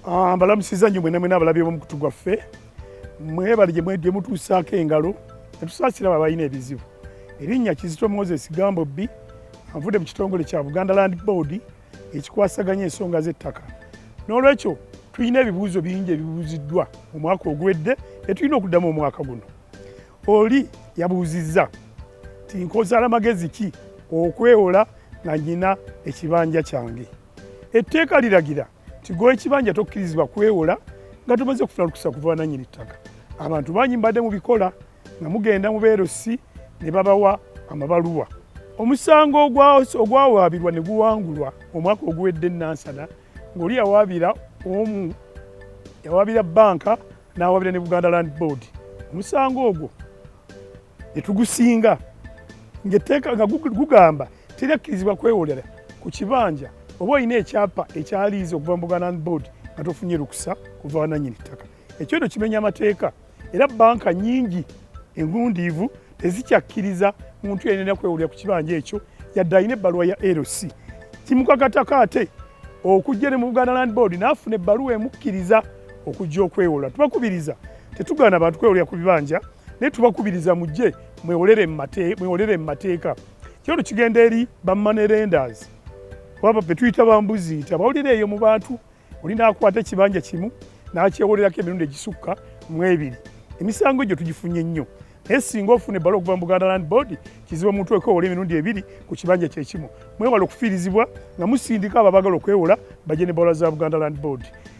Ah, mbalamusiza nnyo mwena mwena abalabi bomukutu gwaffe mwebali gye mutuusaako engalo netusaasira abo abalina ebizibu erinnya kizito moses gambo bbi avudde mu kitongole kya buganda land board ekikwasaganya ensonga z'ettaka n'olwekyo tulina ebibuuzo bingi ebibuuziddwa omwaka oguwedde etulina okuddamu omwaka guno oli yabuuzizza ti nkozaala magezi ki okwewola nga nyina ekibanja kyange etteeka liragira nti gw'ekibanja tokkirizibwa kwewola nga tumaze okufuna lukusa kuva wananyini ttaka abantu bangi mbadde mu bikola nga mugenda mu beerosi ne babawa amabaluwa omusango ogwawaabirwa ne guwangulwa omwaka oguwedde nansana ng'oli yawaabira omu yawaabira banka n'awaabira ne buganda land board omusango ogwo etugusinga ngaetteeka nga gugamba terakkirizibwa kwewolera ku kibanja oba olina ekyapa ekyaliiza okuva mu buganda land board nga tofunye lukusa kuva wananyini ttaka ekyoto kimenya amateeka era banka nyingi engundiivu tezikyakkiriza muntu yenena kwewolera ku kibanja ekyo yadde alina ebbaluwa ya lc kimukakatako ate okujja ne mu buganda land board naafuna ebbaluwa emukkiriza okujja okwewola tubakubiriza tetugaana bantu kwewolera ku bibanja naye tubakubiriza mujje mwewolere mu mateeka kyero kigenda eri bamoney lenders oba betuyita bambuzi nti abawulira eyo mu bantu olina akwata ekibanja kimu n'akyewolerako emirundi egisukka mu ebiri emisango egyo tugifunye nnyo naye singa ofuna ebbala okuva mu buganda land board kizibu omuntu okwewola emirundi ebiri ku kibanja kyekimu mwewala okufiirizibwa nga musindika abo abagala okwewola baje ne bawula za buganda land board